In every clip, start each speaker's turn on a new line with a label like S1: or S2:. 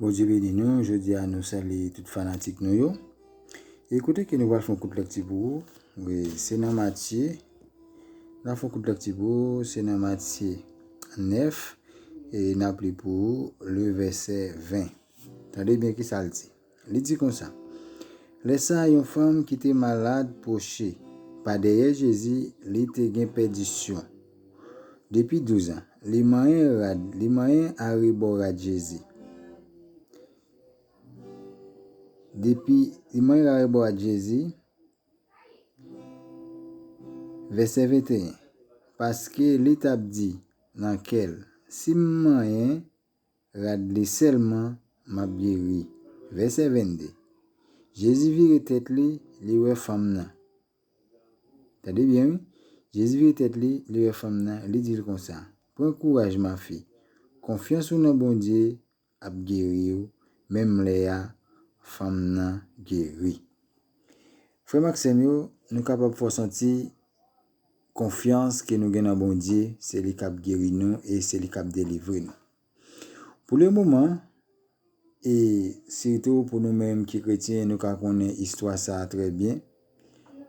S1: Bondye beni nou, jodi a nou salye tout fanatik nou yo. E kote ke nou pral fon kout lekti pou ou, we, se nan Matye, nan fon kout lekti pou ou, se nan Matye 9, e nap li pou ou, le vese 20. Tande byen ki sa l di. Li di konsa, Lè sa a yon fanm ki te malad pwoche pa dèyè Jezi, li te gen pèdisyon depi douzan. Li manyen rad, li manyen arebò rad Jezi, depi, li manyen arebò rad Jezi, vèsè 21, paske li t ap di nan kè l, Si m manyen. Rad li sèlman, m ap geri. Vèsè 22, Jezi vire tèt li, li wè fanm nan. Tande byen wi, Jezi vire tèt li, li wè fanm nan, li di l konsa, Pran kouraj mafi, konfyans ou nan Bondye ap geri ou. Menm lè a, fanm nan geri. Frè m ak sè m yo, nou kapab fò santi. Konfyans ke nou gen nan Bondye, se li kap geri nou e se li kap delivre nou. Pou le moman, e sitou pou nou menm ki kretyen nou ka konnen istwa sa a trè byen,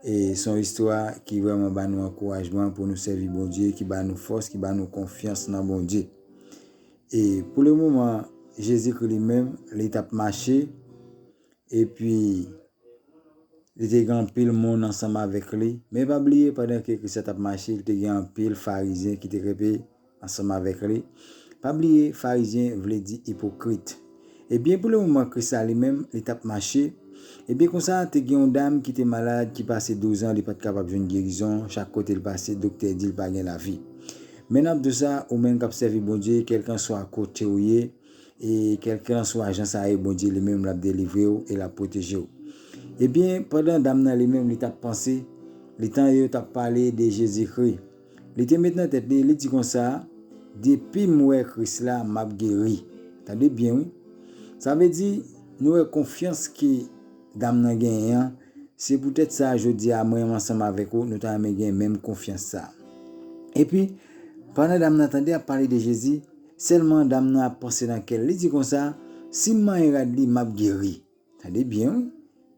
S1: e son istwa ki vrèman ba nou ankourajman pou nou sèvi Bondye, ki ba nou fòs, ki ba nou konfyans nan Bondye. E pou le moman, Jezikri li menm, li tap mache, Epi, li te gen anpil moun ansanm avèk li. Men pa bliye, pandan ke Kris la t ap mache, li te gen anpil Farizyen ki te kenbe ansanm avèk li. Pa bliye, Farizyen vle di ipokrit. Ebyen, pou lemoman Kris la li menm, li t ap mache, ebyen konsa, te gen yon dam ki te malad ki pase douzan li pa t kapab jwenn gerizon, chak kote l pase, doktè di l pa gen lavi. Men n ap di w sa, ou menm k ap sèvi Bondye, kèlkanswa kote w ye, E kèlkelanswa jan sa ye, Bondye li menm l ap delivre w e l ap pwoteje w. Ebyen, pandan dam nan li menm li t ap panse, li tande yo t ap pale de Jezikri. Li te met nan tèt li, li di konsa, Depi m wè Kris la, m ap geri. Tande byen wi! Sa vle di, nou wè konfyans ke dam nan genyen an, se poutèt sa jodi a mwen ansanm avèk ou, nou ta renmen gen menm konfyans sa a. Epi, pandan dam nan tande y ap pale de Jezi, Sèlman dam nan ap panse nan kè l, li di konsa, Si m manyen rad li, m ap geri. Tande byen wi!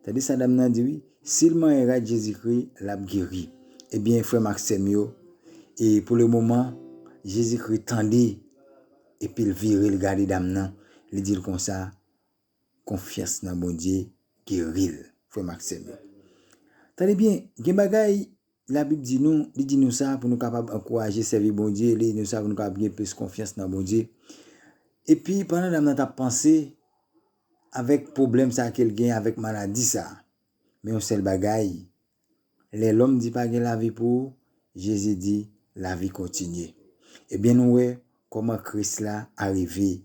S1: Tande sa dam nan di wi, Si l manyen rad Jezikri, l ap geri. Ebyen, frè m ak sè m yo, e pou lemoman, Jezikri tande epi l vire l gade dam nan, li di l konsa, Konfyans nan Bondye geri l, frè m ak sè m yo. Tande byen, gen bagay Labib di nou, li di nou sa pou nou kapab ankouraje sèvi Bondye, li di nou sa pou nou kapab gen plis konfyans nan Bondye. Epi pandan dam nan t ap panse avèk pwoblèm sa ke l gen avèk maladi sa, men yon sèl bagay, lè lòm di pa gen lavi pou ou, Jezi di, lavi kontinye. Ebyen nou wè, Kòman Kris la arive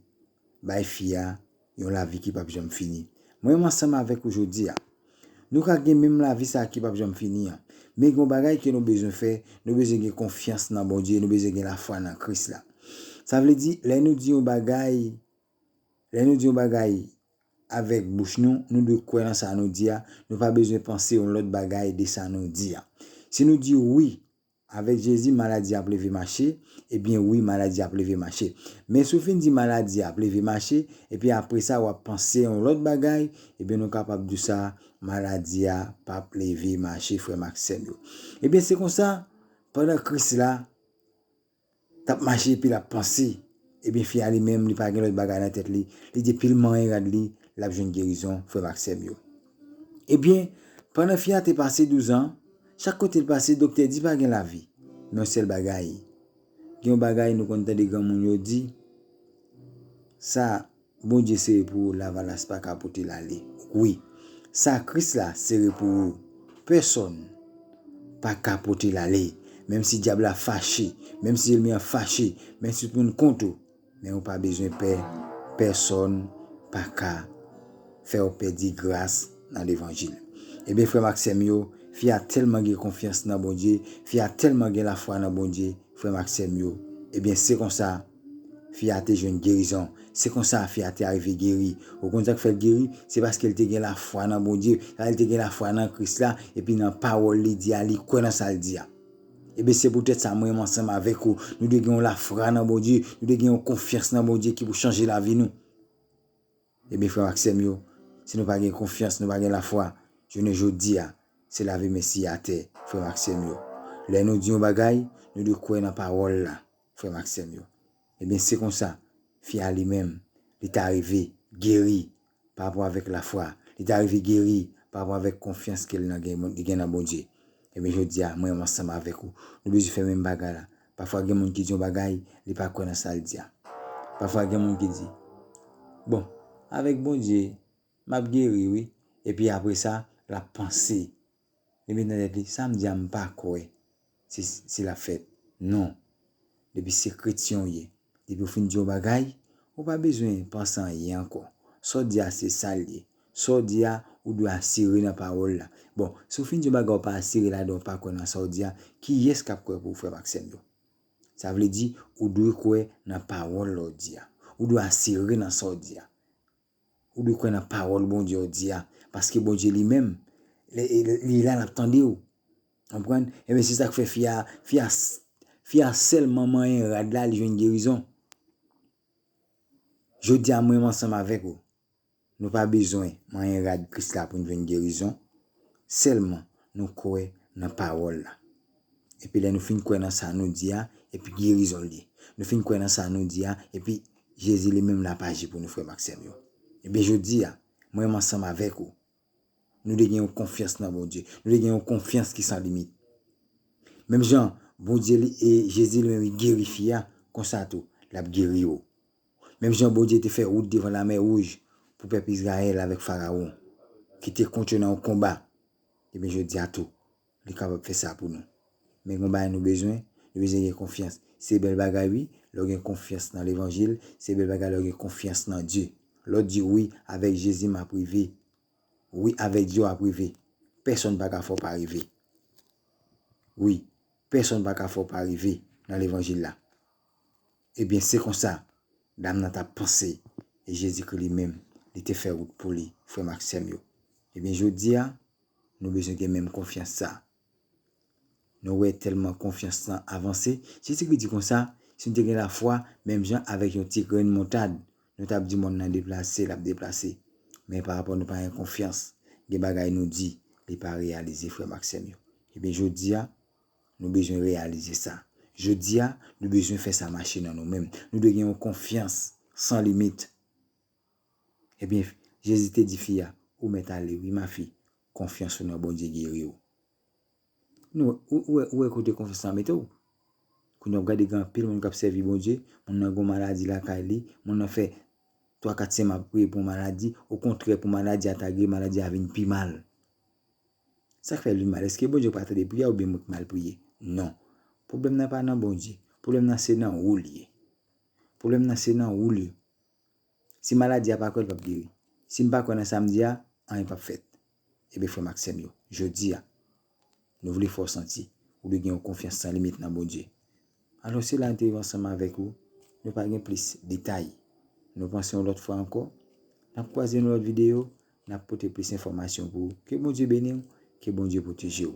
S1: bay fi a yon lavi ki pap janm fini? Mwen ansanm avèk ou jodi a. Nou ka gen menm lavi sa a ki pap janm fini an. Men gen yon bagay ke nou bezwen fè, nou bezwen gen konfyans nan Bondye, nou bezwen gen lafwa nan Kris la. Sa vle di, lè nou di yon bagay, lè nou di yon bagay avèk bouch nou, nou dwe kwè nan sa nou di a, nou pa bezwen panse yon lòt bagay de sa nou di a. Si nou di wi, Avèk Jezi maladi ap leve mache, ebyen wi maladi ap leve mache. Men si w fin di maladi ap leve mache, epi apresa wap panse yon lòt bagay, ebyen nou kapab di w sa, maladi a pap leve mache frè m ak sè m yo. Ebyen se konsa, pandan Kris la, Tap mache epi lap panse. Ebyen fi a li menm li pa gen lòt bagay nan tèt li, li di pil manyen rad li lap jwenn gerizon frèm ak sèm yo. Ebyen pandan fi a te pase 12 ans chak kotel pase doktè di pa gen lavi men yon sèl bagay gen yon bagay nou konn tande granmoun yo di sa Bondye sere pou ou lavalas paka pote l ale wi sa kris la sere pou ou pèsòn paka pote l ale menm si dyab la fache menm si elmi an fache menm si tout moun kont ou men ou pa bezwen pè pèsòn paka fè w pèdi gras nan levanjil ebyen frè m ak sè m yo fi a tèlman gen konfyans nan Bondye fi a tèlman gen lafwa nan Bondye frè m ak sè m yo ebyen se konsa Fi a te jwenn gerizon. Se konsa, fi a te arive geri. Ou konn sa k fè l geri? Se paske l te gen lafwa nan Bondye. Sa vle di l te gen lafwa nan Kris la, epi nan pawòl li di a, li kwè nan sa l di a. Ebyen, se poutèt sa, mwen menm ansanm avèk ou, nou dwe gen yon lafra nan Bondye, nou dwe gen yon konfyans nan Bondye ki pou chanje lavi nou. Ebyen, frè m ak sè m yo, si nou pa gen konfyans, nou pa gen lafwa, jounen jodi a, se lavi men siye atè, frè m ak sè m yo. Lè nou di yon bagay, nou dwe kwè nan pawòl la. Frè m ak sè m yo, ebyen se konsa, fi a li menm, li ta rive geri parapò avèk lafwa, li ta rive geri parapò avèk konfyans ke li gen nan Bondye. Ebyen jodi a, mwen ansanm avèk ou, nou bezwen fè menm bagay la. Pafwa gen moun ki di yon bagay, li pa kwè nan sa l di a. Pafwa gen moun ki di, bon, avèk Bondye, m ap geri wi. Epi apre sa, l ap panse Li met nan tèt li, sa m di a m pa kwè se si l ap fèt. Non. Depi se kretyen w ye, depi w fin di yon bagay, ou pa bezwen panse anyen ankò. Sa w di a se sa l ye. Sa w di a, ou dwe asire nan pawòl la. Bon, si w fin di yon bagay ou pa asire ladan, ou pa kwè nan sa w di a, kiyès k ap kwè pou ou, frè m ak sè m yo? Sa vle di, ou dwe kwè nan pawòl la w di a. Ou dwe asire nan sa w di a. Ou dwe kwè nan pawòl Bondye w di a, paske Bondye li menm li la lap tande w. Konprann? Ebyen se sak fè fi a, fi a fi a sèlman manyen rad la li jwenn gerizon. Jodi a mwen menm ansanm avèk ou, nou pa bezwen manyen rad Kris la pou nou jwenn gerizon, sèlman nou kwè nan pawòl la. Epi lè nou fin kwè nan sa nou di a, epi gerizon li. Nou fin kwè nan sa nou di a, epi Jezi li menm la ap aji pou nou frè m ak sè m yo. Ebyen jodi a, mwen menm ansanm avèk ou, nou dwe gen yon konfyans nan Bondye. Nou dwe gen yon konfyans ki san limit. Menm jan Bondye li e Jezi li menm li geri fi a, konsa tou, l ap geri ou. Menm jan Bondye te fè wout devan lamè wouj pou pèp Izrayèl avèk Farawon ki te kont yo nan yon konba, ebyen jodi a tou, li kapab fè sa pou nou. Men gen yon bagay nou bezwen, nou bezwen gen konfyans. Se bèl bagay wi, lè w gen konfyans nan levanjil, se bèl bagay lè w gen konfyans nan Dye. Lè w di wi, avèk Jezi m ap rive. Wi, avèk Dye w ap rive. Pèsonn pa ka fè w pa rive. Wi, pèsonn pa ka fè w pa rive nan levanjil la. Ebyen, se konsa, dam nan t ap panse, e Jezikri li menm, li te fè wout pou li, frè m ak sè m yo. Ebyen, jodi a, nou bezwen gen menm konfyans sa a. Nou wè tèlman konfyans lan avanse, Jezikri di konsa, Si nou te gen lafwa menm jan avèk yon ti grenn moutad, nou t ap di mòn nan deplase, l ap deplase. Men parapò nou pa gen konfyans, gen bagay nou di, li pa reyalize, frè m ak sè m yo. Ebyen, jodi a. Nou bezwen reyalize sa. Jodi a, nou bezwen fè sa mache nan nou menm. Nou dwe gen yon konfyans san limit. Ebyen, Jezi te di fi a, Ou mèt ale wi, ma fi, konfyans ou nan Bondye geri ou. Ou wè kote konfyans sa mete w? Kounye a w ap gade gen anpil moun k ap sèvi Bondye, moun nan gen yon maladi lakay li, moun nan fè twa kat semen ap priye pou yon maladi, okontrè pou maladi a ta geri, maladi a vin pi mal. Sak fè li mal? Eske Bondye pa tande priyè oubyen mwen ki mal priye? Non. Pwoblèm nan pa nan Bondye. Pwoblèm nan se nan ou li ye. Pwoblèm nan se nan ou li ye. Si maladi a pa kwè li pap geri. Si m pa kwè nan sa m di a, anyen pap fèt. Ebyen frè m ak sè m yo, jodi a, nou vle fè w santi ou dwe gen yon konfyans san limit nan Bondye. Alò sila yo te viv ansanm avèk ou, nou pa gen plis detay. Nou panse yon lòt fwa ankò, nap kwaze yon lòt videyo, nap pote plis enfòmasyon pou ou. Ke Bondye beniw, ke Bondye pwotejew.